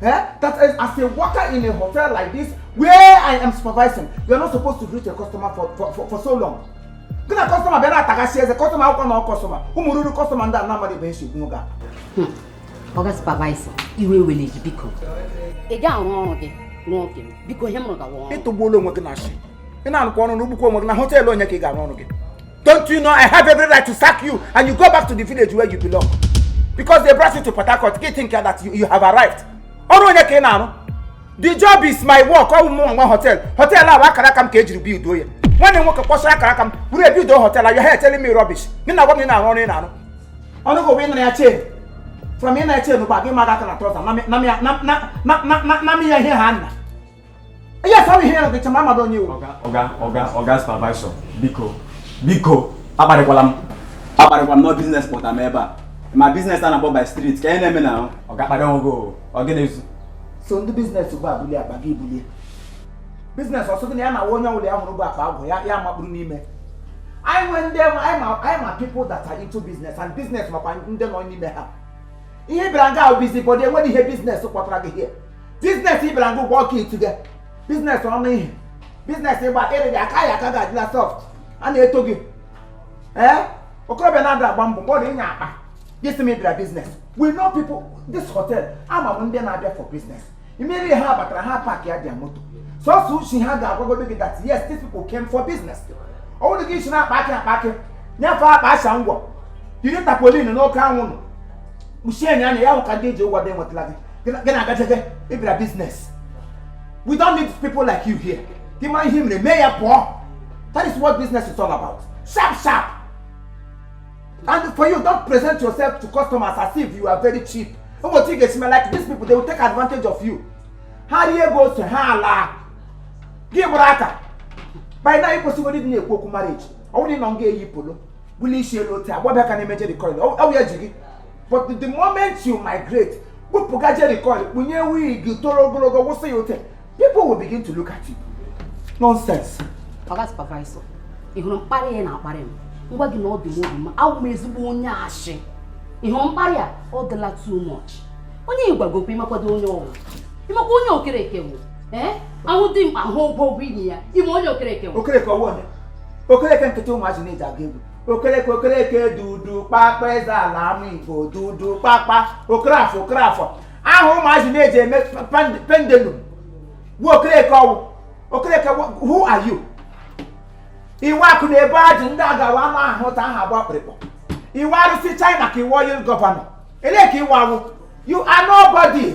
Eh? That is, as a worker in a hotel like this, where I am supervising, you are not supposed to greet a customer for, for, for, for so long. Gị na customer bịa na-atagasị eze customer akwụkwọ na customer ụmụ ruru customer ndị a na-amaghị ebe e si gbuo ga. Oga supervisor, iwe ewele gị biko. Ị ga-arụ ọrụ gị n'oge m, biko ihe m rụgawa ọrụ. Ịtụgbuola onwe gị n'asị. ị na-arụkwa ọrụ na-arụgbukwa onwe gị na hotel onye ka ị ga-arụ ọrụ gị don't you know i have every right to sack you and you go back to the village where you belong because they brought you to port harcourt gị think that you, you have arrived ọrụ onye ka ị na-arụ the job is my work ọ bụ mụ nwe hotel hotel ahụ akara aka m ka e jiri buildo ya nwanne nwoke kpọsara akara aka m bụrụ e buildo hotel you're here telling me rubbish nị na-agwa m ị na-arụ ọrụ ị na-arụ ọnụ gị wee nara ya chain from ị na-eche n'ụba gị mara aka na trọza na m ya ihe ha nna Yes, I'm here. The chamama don you. Oga, oga, oga, oga supervisor. Biko, biko. Akparịkwala m. Akparịkwala m n'ọ business kpọtara m ebe a. Ma business a na-akpọ by street. Ka ihe na-eme na oga akparị ọgụ ọ gị na-ezu. So ndị business ugbu a bulie akpa gị bulie. Business ọsọ gị na ya na onye ọbụla ya hụrụ bụ akpa agwụ ya ya makpụrụ n'ime. Anyị nwee ndị anyị ma anyị ma people that are into business and business makwa ndị nọ n'ime ha. Ihe bịara nga a wụ busybody enweghị ihe business kpọtara gị here. business ị bịara gị ụgwọ ọka itu gị business ọnụ ihe business ịgba ịrị gị aka ya aka ga-adịla soft a na-eto gị ee okorobịa na-ada agba mbọ mgbe ọ dị ị nyara akpa gị sị m ị bịara business we know people this hotel ama m ndị na-abịa for business immediately ha batara ha parkịa their motor sọsọ ishi ha ga-agwagodo gị that yes these people came for business ọ bụrụ gị isi na-akpa akị akpa akị nyefe akpa acha ngwọ yiri tarpaulin n'oke anwụ nọ kpuchie nya anya ya hụ ka ndị e ji ụgwọ dị enwetala gị gị na-agajege ị bịara business we don't need people like you here gị ma ihe mere mee ya pụọ that is what business is all about sharp sharp and for you don't present yourself to customers as if you are very cheap ụbọchị ị ga-esi like these people they will take advantage of you ha rie ego ose ha alaa gị gbara aka by now ị kwesịgo ịdị na-ekwu okwu marriage ọ bụrụ na ị nọ nga eyi polo bula isi elu otu agbabịa ka na-eme jerry curl ọ bụ ya ji gị but the moment you migrate kpụpụga jerry curl kpunye wig toro ogologo wụsị ya ote people will begin to look at you nonsense oga supervisor ị hụrụ mkparị a ị na-akparị m m gwa gị na ọ dị m obi mma awụ m ezigbo onye ashị ị hụrụ mkparị a ọ dịla too much onye ị gwaga okwu ị makwadọ onye ọ wụ ị makwa onye okereke wụ ee a hụ dimkpa a hụ ogologo imi ya ị ma onye okereke wụ okereke ọ wụ onye okereke nkịta ụmụazị na-eji aga egwu okereke okereke dudu kpakpa eze ala ama igbo dudu kpakpa okerafọ okerafọ aha ụmụazị na-eji eme pand- pendulum bụ okereke ọ wụ okereke wụ- who are you ị wụ akụ na ebe ajụ ndị agawa ama ahụta aha agba kpịrịkpọ ị wụ arụsị china ka ị wụ oil gọvanọ elee nke ị wụ awụ you are nobody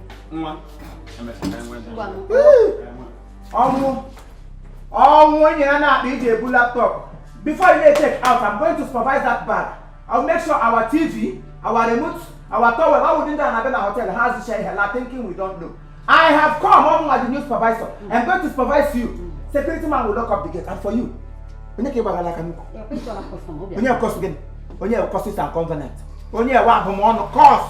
nwa ọnwụ ọnwụ onye a na akpa eji ebu laptop before you dey check out i'm going to supervise that bag i will make sure our tv our remote our towel all within that na bena hotel has the share la thinking we don't know i have come ọ mụnwa the new supervisor i'm going to supervise you security man will lock up the gate and for you onye ka ị gbagara aka nnukwu onye curse gịnị onye curses and covenant onye wa abụmọnụ curse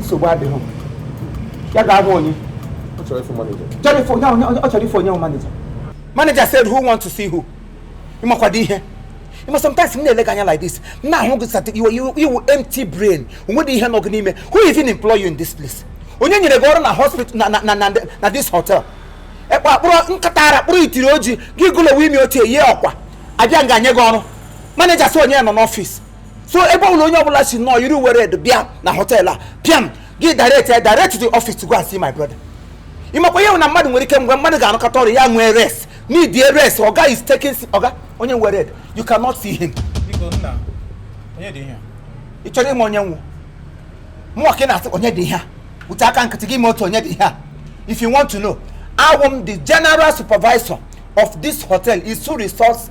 nsogbu adịghị ya ga-ahụ onye ọ chọrọ ịfụ manija chọrọ ịfụ onye onye ọ chọrọ ịfụ onye bụ manija manager said who want to see who ị makwado ihe ị ma sometimes m na-ele gị anya like this m na-ahụ gị sat ị wụ ị wụ ị wụ empty brain o nwedị ihe nọ gị n'ime who even employ you in this place onye nyere gị ọrụ na hospital na na na na, na this hotel ekpe akpụrụ nkịta ara kpụrụ itiri oji gị gụlowe ime ochie yie ọ kwa abịa nga nye gị ọrụ manager sị onye ya nọ n'ọfịs so ebe ọbụla onye ọbụla si nọọ yiri uwe red bịa na hotel a pịam gị direct ya direct to the office to go and see my brother ị makwa ihe na mmadụ nwere ike mgbe mmadụ ga-anọkata ọrụ ya nwee rest need a rest oga is taking si- oga onye uwe red you cannot see him Biko nna, onye dị ihe? ị chọrọ ịma onye m wụ mụwa ka ị na-asị onye dị ihe a wute aka nkịtị gị ma otu onye dị ihe a if you want to know awụ m the general supervisor of this hotel isu resource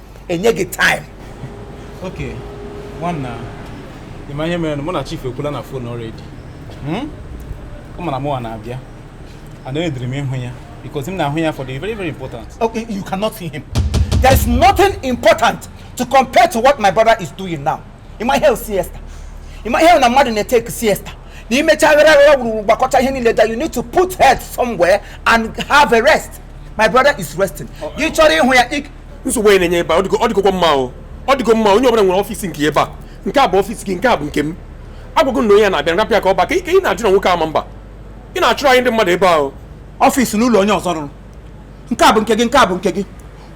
e nye gị time okay nwanna ị ma ihe mere na mụ na chief ekwula na phone already Hmm? ọ ma na mụwa na-abịa aneedịrị m ịhụ ya because m na-ahụ ya for the very very important okay you cannot see him there is nothing important to compare to what my brother is doing now ị ma ihe bụ siesta ị ma ihe bụ na mmadụ na-etake siesta na i mecha aghara aghara wuruwuru gbakọta ihe niile that you need to put head somewhere and have a rest my brother is resting gị chọrọ ịhụ ya ị- nsogbu a ị na-enye ebe a ọ dịgokwa mma o ọ dịgo mma onye ọbụla nwere ọfịs nke ebe a nke a bụ ọfịs gị nke a bụ nke m a gwa gị na onye a na-abịa rapụ ya ka ọ baa ka ị na-ajụ na nwoke ọma mba ị na-achụrụ anyị ndị mmadụ ebe ahụ ọfịs n'ụlọ onye ọzọ rụrụ nke a bụ nke gị nke a bụ nke gị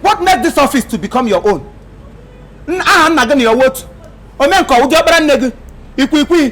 what make this office to become your own aha nna gị na ya otu omenka ụdị ọkpara nne gị ikwikwii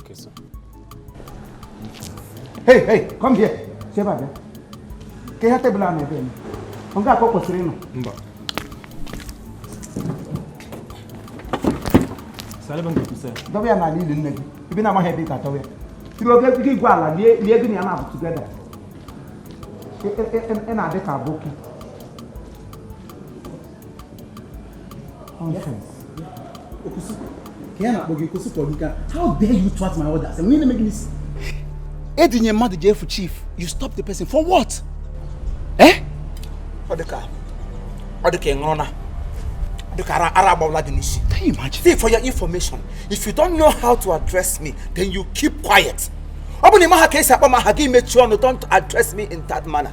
Okay, sir. Hey, hey, come here. Si ebe a bịa. Kee ihe tebụl a nọ ebe a eme. Ọ nga ka o kwesịrị ịnọ. Mba. Dọba ya n'ala ili nne gị. Ebe ị na-amaghị ebe ị ga-adọba ya. Tiri oge gị e gwuo ala lie gị na ya naabọ together. Ị na-adị ka aboki. Nonsense. Okusuko. Kaya na bogi Okusuko Olika. How dare you thwart my orders? And when you make this Edinye mmadụ jee fụ chief, you stop the person for what? Eh? Ọ dịka ọ dịka ịṅụrụ na dịka ara ara agbawala gị n'isi. Can you imagine? See, for your information, if you don't know how to address me, then you keep quiet. Ọ bụ na ị maha ka esi akpọ m aha gị mechie ọnụ don't address me in that manner.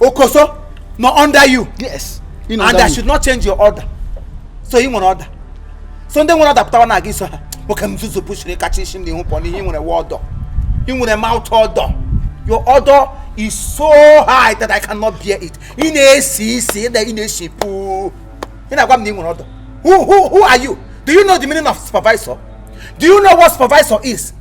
Okoso no under you. Yes. You know and I should not change your order. So ị nwere order. So ndị nwere order pụtawa na ị ga-eso ha nwoke m zuzu pushiri kacha isi m n'ihu pụọ ihe ị nwere wụ odour ị nwere mouth odour your odour is so high that I cannot bear it ị na-esi isi ị na-esi puu ị na-agwa m na ị nwere order who who who are you do you know the meaning of supervisor do you know what supervisor is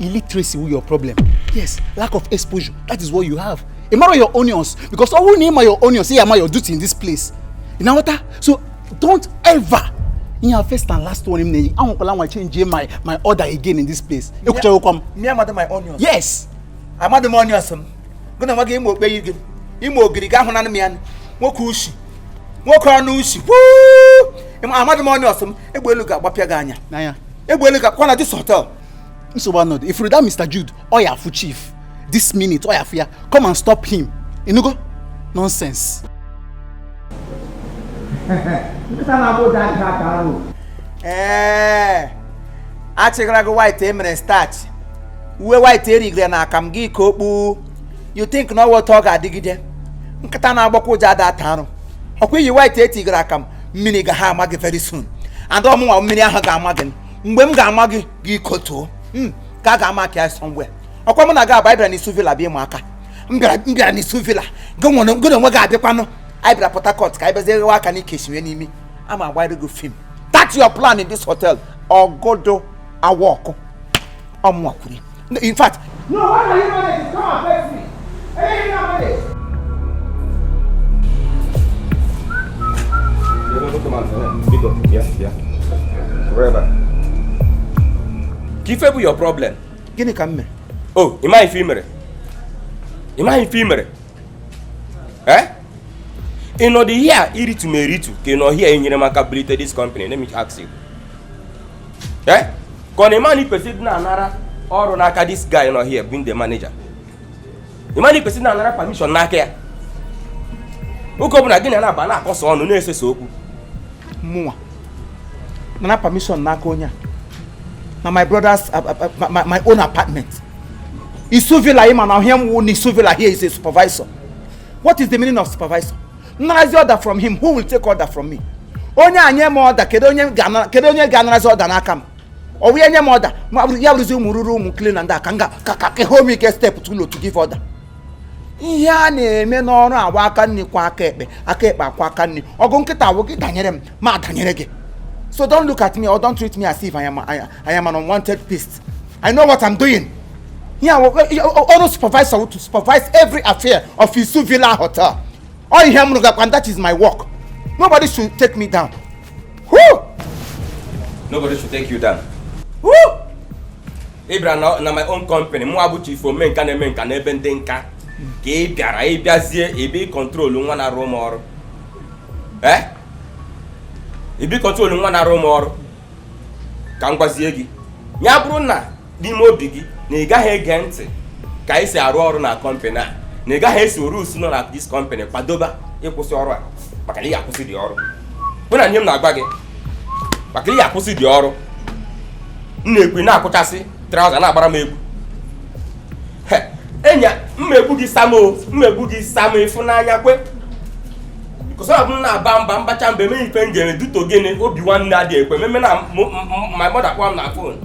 illiteracy wu your problem yes lack of exposure that is what you have ị marọ your onions because ọ bụrụ na ị ma your onions ị ya-ama your duty in this place ị na-aghọta so don't ever ihe a first and last one m na-enye gị anwakwala anwa change my my order again in this place ekwuchaghịkwa m Nne amadị my onions. yes Amadị m onions m. Gụ na nwa gị ị ma okpeyi gị. Ị ma ogiri gị ahụna m ya nụ. Nwoke ushi. Nwoke ọnụ ushi. Wuu! Ịma- Amadị m onions m. Egbe elu ga-agbapịa gị anya. n'anya Egbe elu ga-akwa na this hotel. nsogbu anọdụ ị fụrụ that Mr. Jude ọ ya-afụ chief this minute ọ ya-afụ ya come and stop him ị nụgo nonsense nkịta na-agbọ ụja ada ata arụ ee achịgara gị white emere starch uwe white etigere na akamụ gị ka okpu you think na ọ wụ otu ọ ga-adịgide nkịta na-agbọkwa ụja ada ata arụ ọkwa i yi white etigara akamụ mmiri ga ha ama gị very soon and ọ mụnwa mmiri ahụ ga-ama gị mgbe m ga-ama gị gị kotuo hmm, ka a ga-ama ka ya somewhere ọkwa mụ na gị abụọ bịara n'Isu Villa bịa ịmụ aka m bịara n'Isu Villa gị na onwe gị abịakwanụ anyị bịara Port Harcourt ka anyị bịazie ghewa aka n'ike esiwe n'imi a ma-agbara gị film that your plan in this hotel ọ gadị awork ọ mụnwa kwuru in fact. no why are you manage to come and vex me eléyìí náà manage. kee ife bụ your problem gịnị ka m mere o oh, ị maghị ife i mere ị maghị ife i mere eh? ị nọdụ here iritu m eritu ka ị nọ here enyere m aka bulite this company let me ask you eh ka ọ na ị ma na i kwesịrị ịdị na-anara ọrụ n'aka this guy nọ here being the manager ị ma na i kwesịrị na-anara permission n'aka ya oge ọbụla gị na na-abịa na-akọsa ọnụ na-esesa okwu mụnwa nara permission n'aka onye a na my brother's uh, uh, uh, my, my own apartment Isu Villa ị ma na ihe m wụ na Isu Villa here is a supervisor what is the meaning of supervisor narazi order from him who will take order from me onye a nye m order kedu onye ga-anarazi order n'aka m ọ wụ ya nye m order ya bụrụzi ụmụ ruru ụmụ cleaner ndị a ka m ga ka ka home ike step too low to give order ihe a na-eme n'ọrụ a wụ aka nni kwa aka ekpe aka ekpe akwa aka nni ọgụ nkịta a wụ gị danyere m m adanyere gị so don't look at me or don't treat me as if I am, I, I am an unwanted beast I know what I'm doing. Yeah, ọrụ supervisor to supervise every affair of Isu Villa Hotel. Ọ ihe m rụgakwa and that is my work. Nobody should take me down. Woo! Nobody should take you down. Woo! Ị bịara na, na my own company, mụwa bụ chief ome nka na-eme nka n'ebe ndị nka ka ị bịara ị bịazie ịbịa ịcontrol nwa na-arụ m ọrụ. Eh? Ịbịa ịcontrol nwa na-arụ m ọrụ. ka m gwazie gị ya bụrụ na n'ime obi gị na ị gaghị ege ntị ka e si arụ ọrụ na company a na ị gaghị eso rules nọ na this company kwadoba ịkwụsị ọrụ a maka na ị ga-akwụsị dị ọrụ bụ na ihe m na-agwa gị maka ị ga-akwụsị dị ọrụ m na-ekwu na-akwụchasị trouser na-agbara m egwu enya mmegbu gị sam o mmegbu gị sam ịfụnanya kwe because ọ bụ m na-aba mba mbacha mba emeghị ife m ga-eme due to gịnị obi nwanne adị ekwe m eme na m- m- my mother kpọọ m na phone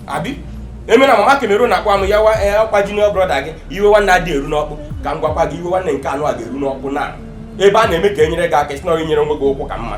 abi eme na mama kemero na-akpọ m ya wa eh, ọkwa junior brother gị iwe nwanne adị eru n'ọkpụ ka m gwakwa gị iwe nwanne nke anụwa ga-eru n'ọkpụ na ebe a na-eme ka e nyere gị aka ị sị na ọ nyere nwe gị ụkwụ ka mma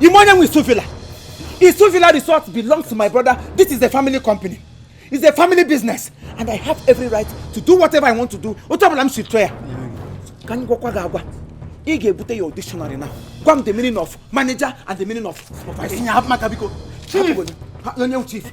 Ị ma onye nwe Isu Villa. Isu Villa Resort belongs to my brother. This is a family company. It's a family business. And I have every right to do whatever I want to do. Otu ọbụla m si chọọ ya. Ka anyị gwakwa gị agwa. Ị ga-ebute your dictionary now. Gwa m the meaning of manager and the meaning of supervisor. Chief! Onye chief?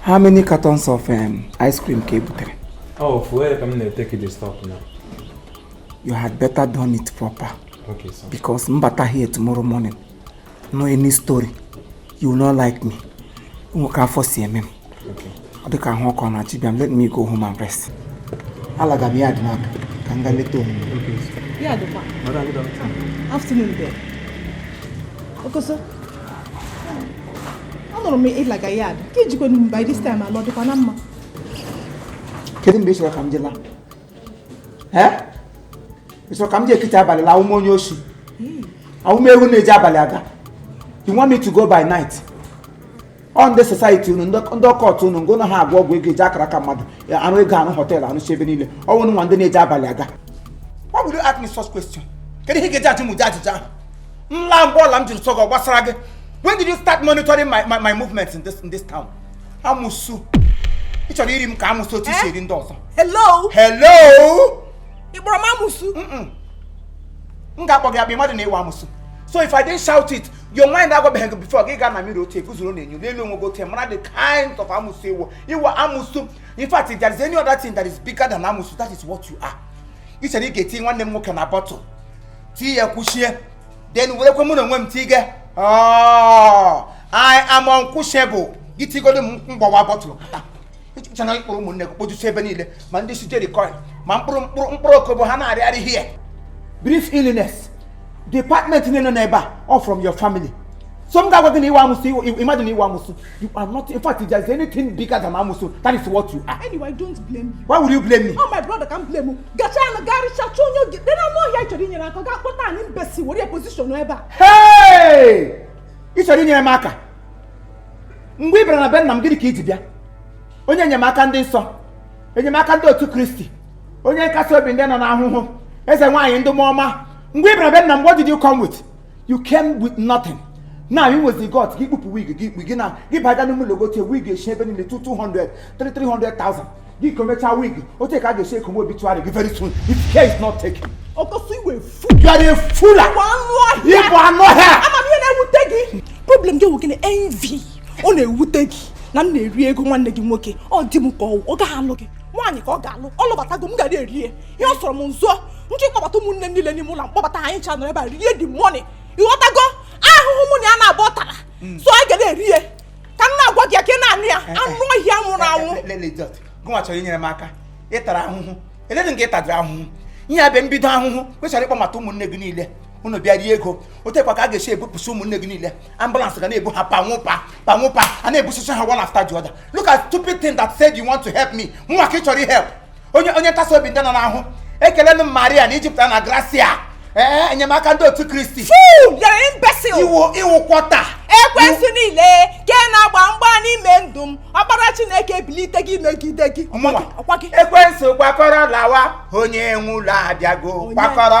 How many cartons of um, ice cream ka ebutere? Oh, fuel ka m na-ete ka iji stop now. You had better done it proper. Okay, sir. Because m bata here tomorrow morning. No any story. You will not like me. Nwoke afọ si eme m. dịka ahụ ọkụ na-achọ ịbịa m let me go home and rest alaga m yard n'aka ka m gaa leta omume ya dịkwa afternoon there okoso anụrụ m ị laga yard ka i jikwa by this time ala ọ dịkwa na mma kedu mgbe ị chọrọ ka m ji laa ị chọrọ ka m ji ekiti abalị laa a wụ m onye oshi a wụ m ewu na-eji abalị aga you want me to go by night ọ ndị society unu ndị ndị occult unu gị na ha agwọ ọgwụ ego eji akaraka mmadụ ya arụ ego arụ hotel arụchi ebe niile ọ wụ unu wụ ndị na-eji abalị aga Why would you ask me such question? Kedu ihe ị ga-eji ajụ m ụdị ajụjụ ahụ? M laa mgbe ọla m jiri sọ gị ọ gbasara gị. When did you start monitoring my, my, my movements in this, in this town? Amusu. Ị chọrọ iri m ka amusu otu i si eri ndị ọzọ. Hello? Hello? Ị kpọrọ m amusu? Mm-mm. M ga-akpọ gị akpa mmadụ na-ewe amusu. So if I didn't shout it, yo nwaanyị na-agwabeghị gị before gị gaa na mirror guzoro n'enyo na-ele onwe gị otu mara the kind of amusu ị wụ ị wụ amusu in fact if there is any other thing that is bigger than amusu that is what you are ị chere ị ga-eti nwanne m nwoke na bottle tie ya kwuchie then werekwe mụ na onwe m tige oh, I am unquenchable gị tigodo m m gbawa bottle pụta chọrọ ịkpọrọ ụmụnne gị kpojusi ebe niile ma ndị si jerikọin ma mkpụrụ mkpụrụ mkpụrụ okobo ha na-arịagharị ihe brief illness department niile nọ n'ebe a all from your family so m ga-agwa gị na ị wụ amụsụ imagine ị wụ amụsụ you are not in fact if there is anything bigger than amụsụ that is what you are. anyway don't blame you. why would you blame me. oh my brother ka m blame m gacha na garịcha chọọ onye oge dị na anụ ọhịa ị chọrọ inyere aka gaa kpọta an imbecile were position ebe a. hey ị chọrọ inyere m aka. mgbe ị bịara na be nna m gịnị ka i ji bịa onye enyemaka ndị nsọ enyemaka ndị otu kristi onye nkasi obi ndị nọ n'ahụhụ eze nwaanyị ndị mụọ ọma mgbe ị bịara be nna m what did you come with you came with nothing now ị wụzi god gị kpupụ wig gị i kpu gị na gị baga n'ime ụlọ gotie wig eshi ebe niile 200 300,000 Gị komecha wig, otu ka a ga-esi ekowe obituary gị very soon if care is not taken. Ọkọsọ ị wụ fool. You are a fool. Ị bụ anụ ọhịa. Ị bụ anụ ọhịa. Ama m ihe na-ewute gị. Problem gị wụ envy. Ọ na-ewute gị na m na-eri ego nwanne gị nwoke. Ọ dị m ka ọ gaghị alụ gị. Nwaanyị ka ọ ga-alụ. Ọ lụbatago m ga na-eri. Ihe ọ sọrọ m m zụọ. M chịkọbata ụmụnne m niile n'ime ụlọ m kpọbata anyị ncha nọrọ ebe a rie the money. Ị ghọtago ahụhụ mụ na ya naabọ tara. Mm. So anyị ga na-eri ya. ka m na-agwa gị ya ka ị na-anụ ya eh, anụ ọhịa nwụrụ anwụ gụnwa chọrọ inyere m aka ị tara ahụhụ eledị nke ị tadị ahụhụ ihe a bụ mbido ahụhụ kwesịrị ịkpọbata ụmụnne gị niile unu bịa rie ego otu a kwa ka a ga-esi ebupụsị ụmụnne gị niile ambulance ga na-ebu ha panwụpa panwụpa a na-ebusisi ha one after the other look at stupid thing that said you want to help me mụnwa ka ị chọrọ help onye onye ntasi obi ndị nọ n'ahụ ekele m maria na i jupụta na gracia ee enyemaka ndị otu kristi iwu kwọta ekwensu niile ke na-agba mgba n'ime ndụ m ọkpara chineke ebilite gị megide gị ekwensu kwakọrọ lawa onye nwe ụlọ abịago kwakọrọ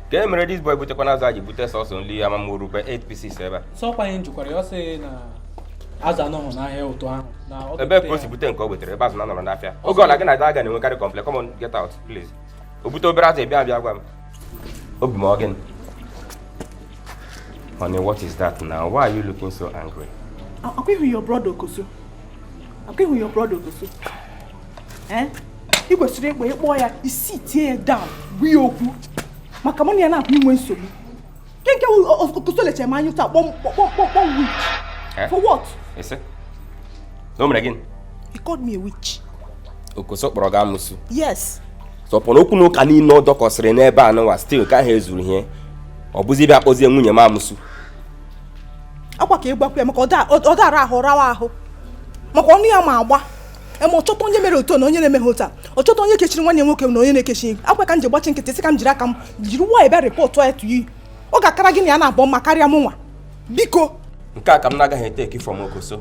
ka e mere this boy butekwa na azụ a ji bute sọsọ nri ama m o rukwe 8 pieces ebe a sọkwa ihe m ji kọọrọ ya ọ sị na azụ anọghị n'ahịa ụtụtụ ahụ na ọ ga-ebute ya. ebe ka o si bute nke o butere ebe azụ na-anọrọ n'afịa oge ọbụla gị na aga na-enwekarị complaint come on get out please o bute obere azụ ị bịa abịa gwa m obi m ọ gịnị honey what is that now why are you looking so angry Ọ kwa ị hụ your brother Ọkọsọ. Ọ kwa ị hụ your brother Ọkọsọ. Eh? ị kwesịrị ịkpọ ịkpọ ya sitie ya down gwa ya okwu maka mụ na ya na-akọ inwe nsogbu nke nke okoso lecha m anya taa kpọọ m witch eh? for what? o mere gịnị? he called me a witch. okoso kpọrọ gị amusu yes so upon okwu na ụka niile ọ dọkọsịrị n'ebe a nụwa still kaha ezuru ihe ọ bụzi bịa kpọzie nwunye m amusu akwa ka ị gwakwa ya maka ọ dara ahụ rawa ahụ maka ọnụ ya ma agba e mee ọ chọta onye mere otu na onye na-emeghị otu a ọ chọta onye kechiri nwanne nwoke na onye na-ekechi akwa ka m ji gbachi nkịtị sị ka m jiri aka m jiri nwayọ bịa rịpọtụ ya to you ọ ga-akara gị na ya naabọ mma karịa mụnwa biko nke a ka m na-agaghị eteki from okoso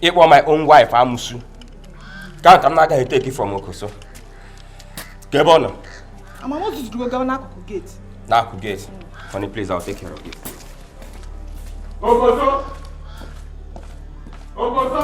ịkpọ my own wife amusu nke a ka m na-agaghị eteki from okoso kee ebe ọ nọ amama o zuzurugo gawa n'akụkụ geti n'akụkụ geti honey please I'll take care of you okoso okoso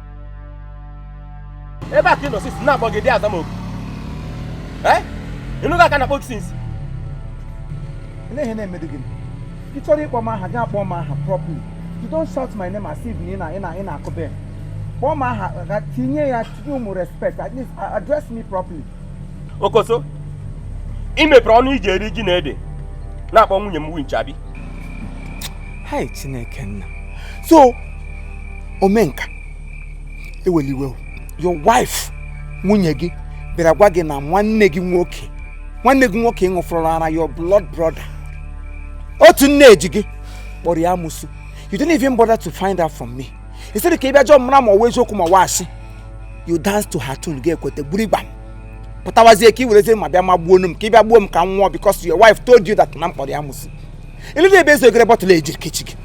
ebe a ka ị nọ since a na-akpọ gị ị dị aza m oku ị nụgha ka a na-akpọ gị since Ele ihe na-emedu gị ị chọrọ ịkpọ m aha gị akpọọ m aha properly you don't shout my name as if na ị na- ị na- ị na-akụ bell kpọọ m aha gị tinye ya tinye ụmụ respect at least address me properly okoso ị mepere ọnụ i ji eri ji na ede na-akpọ nwunye m winch abi hai chineke nna so omenka eweliwe your wife nwunye gị bịara gwa gị na nwanne gị nwoke nwanne gị nwoke ị ṅụfọrọ ara your blood brother otu nne ji gị kpọrọ ya amusu you didn't even bother to find out from me instead ka ị bịa jụọ mara ma ọ wụ eziokwu ma ọ wụ asị you dance to her tune ga-ekweta gburu igba m pụtawazie ka ị werezie mma bịa magbuo m ka ị bịa gbuo m ka m nwụọ because your wife told you that na m kpọrọ ya amusu eledụ ebe e zogere bọtụlụ ejiri kechi gị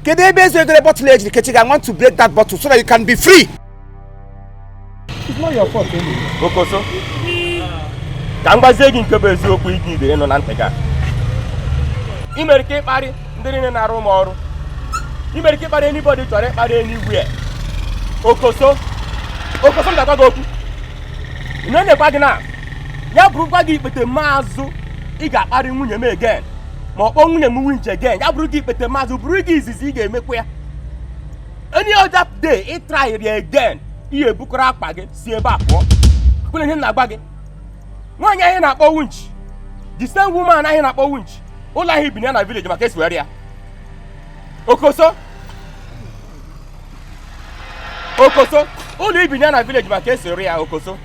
kedu ebe e zogere bọtụlụ ejiri kechi gị i want to break that bottle so that you can be free okoso ka m gwazie gị nke bụ eziokwu iji ibe ịnụ na ntị gị i nwere ike ịkparị ndị niile na-arụ m ọrụ i nwere ike ịkparị anybody ị chọrọ ịkparị anywhere okoso okoso m ga-agwa gị okwu ị na-enyekwa gị na ya bụrụkwa gị ikpetemazụ ị ga-akparị nwunye m again ma ọ kpọọ nwunye m winch again ya bụrụ gị ikpetemazụ bụrụ gị izizi ị ga-emekwa ya any other day ị tryrị again ị ya-ebukọrọ akpa gị si ebe a pụọ kwere ihe m na-agwa gị nwaanyị ahụ ị na-akpọ winch the same woman ahụ ị na-akpọ winch ụlọ ahụ i bi na ya na village ị ma ka e si were ya okoso okoso ụlọ i bi na ya na village ị ma ka e si were ya okoso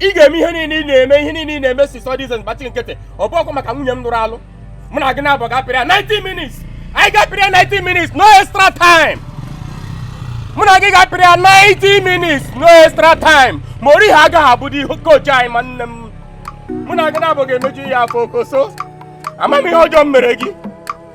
ị ga-eme ihe niile ị na-eme ihe niile ị na-eme since all these years gbachi nkịtị ọ bụ ọ kwa maka nwunye m nụrụ alụ mụ na gị naabọ ga-apịrị ya 90 minutes anyị ga-apịrị ya 90 minutes no extra time mụ na gị ga-apịrị ya 90 minutes no extra time Mourinho agaghị abụdị coach anyị ma nne m mụ na gị naabọ ga-emeju ya afọ okoso amaghị m ihe ọjọọ m mere gị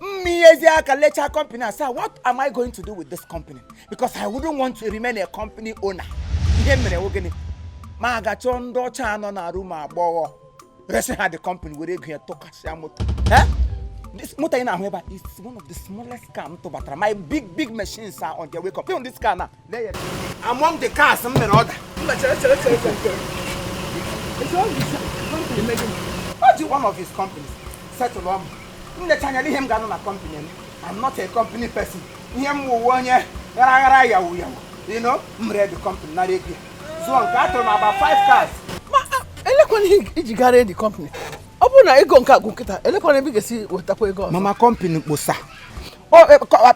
mmiyezi aka lechaa company a sị what am i going to do with this company because i wouldn't want to remain a company owner ihe mere nwoke ni m gaa chọọ ndị ọcha nọ na Rumuigbo resi ha the company were ego ya tụkasịa moto Eh? This motor ị na-ahụ ebe a is one of the smallest car m tụbatara my big big machines are on their way up Even this car na among the cars m mere order o ji one of his companies settle mụ m lecha anya ihe m ga-anụ na company m I'm not a company person ihe m wụ wụ onye ghara aghara yawu yawu you know m ree the company nara ego ya zụọ nke a tụrụ m about five cars elekwana ihe i ji gaa ree the company ọ bụrụ na ego nke a gwụ kịta elekwana ebe ị ga-esi wetakwa ego ọzọ mama company kposa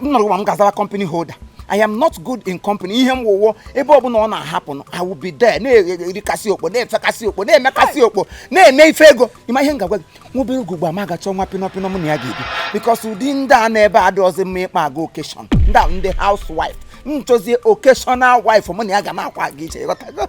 nọrọ m ga-azawa company holder I am not good in company ihe m wụ wụ ebe ọ bụla ọ na-happen I will be there na-erikasị okpo na-efekasị okpo na-emekasị okpo na-eme ife ego ị ma ihe m ga-agwa gị nwobe ego gba m ga-achọ nwa pinọpinọ mụ na ya ga-ebi because ụdị ndị a nọ ebe a adịrọzi mma ịkpọ aga occasion ndị a ndị housewife m chọzie occasional wife mụ na ya ga na-akwụ aga iche ị ghọtago